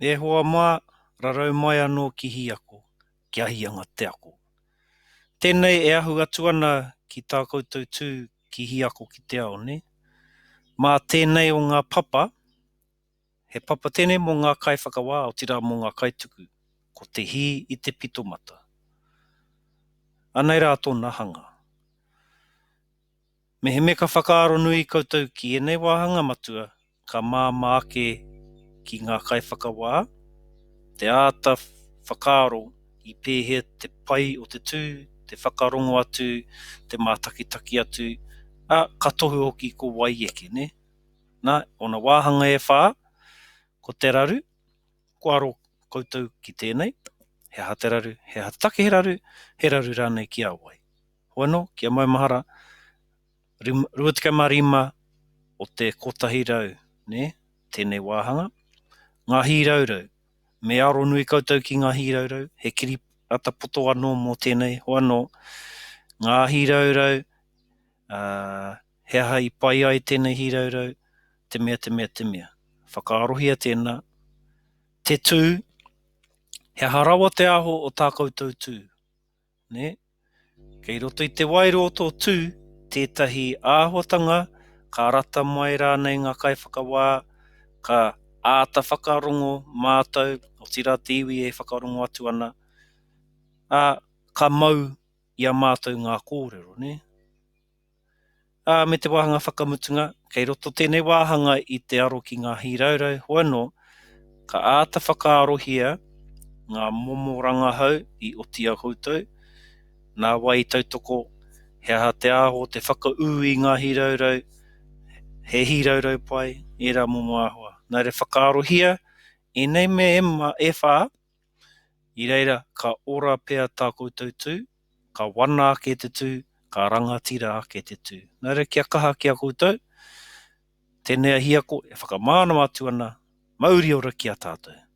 E hoa mā, rarau mai anō ki Hiako, kia hia ngā te ako. Tēnei e ahu atu ana ki tā koutou tū ki Hiako ki te ao, nē? Mā tēnei o ngā papa, he papa tēnei mō ngā kaiwhakawā, otirā mō ngā kaituku, ko te hī i te pitomata. Anei rā tōna hanga. Mehemea ka whakaaro nui koutou ki ēnei wāhanga matua ka māmā ake ki ngā kaiwhakawā te āta whakaaro i pēhea te pai o te tū, te whakarongo atu, te mātakitaki atu, ā, ka tohu hoki ko wai eke, nē? Nā, ōna wāhanga e whā, ko te raru, kua aro koutou ki tēnei, he aha te raru, he aha te take he raru, he raru rānei ki a wai? Hoano, ki a maumahara, 25 o te kotahi rau, ne, tenei wāhanga, Nga hīraurau, me aro nui koutou ki nga hīraurau, he kiripata poto ano mo tenei, hoano, nga hīraurau, a, he aha i pai ai tenei hīraurau, te mea, te mea, te mea. Whakaarohia tena, te tu, he aha rawa te aho o ta koutou tu? nē? Kei roto i te waero o tō tū tētahi āhuatanga ka rata mai rānei ngā kaiwhakawā, ka āta whakarongo mātou, otirā te iwi e whakarongo atu ana, ā, ka mau i a mātou ngā kōrero, nē? ā, me te wāhanga whakamutunga, kei roto tēnei wāhanga i te aro ki ngā hīraurau hoa anō, ka āta whakaarohia ngā momo rangahau i oti au koutou, nā wai i tautoko, he aha te āho, te whakaū i ngā hīraurau, he hīraurau pai ērā momo āhua. Nā reira whakaarohia ēnei mea e whā, I reira ka ora pea tā koutou tū, ka wana ake te tū, ka rangatira ake te tū. Nō reira kia kaha ki a koutou tēnei ahiako e whakamānawa atu ana, mauri ora ki a tātou.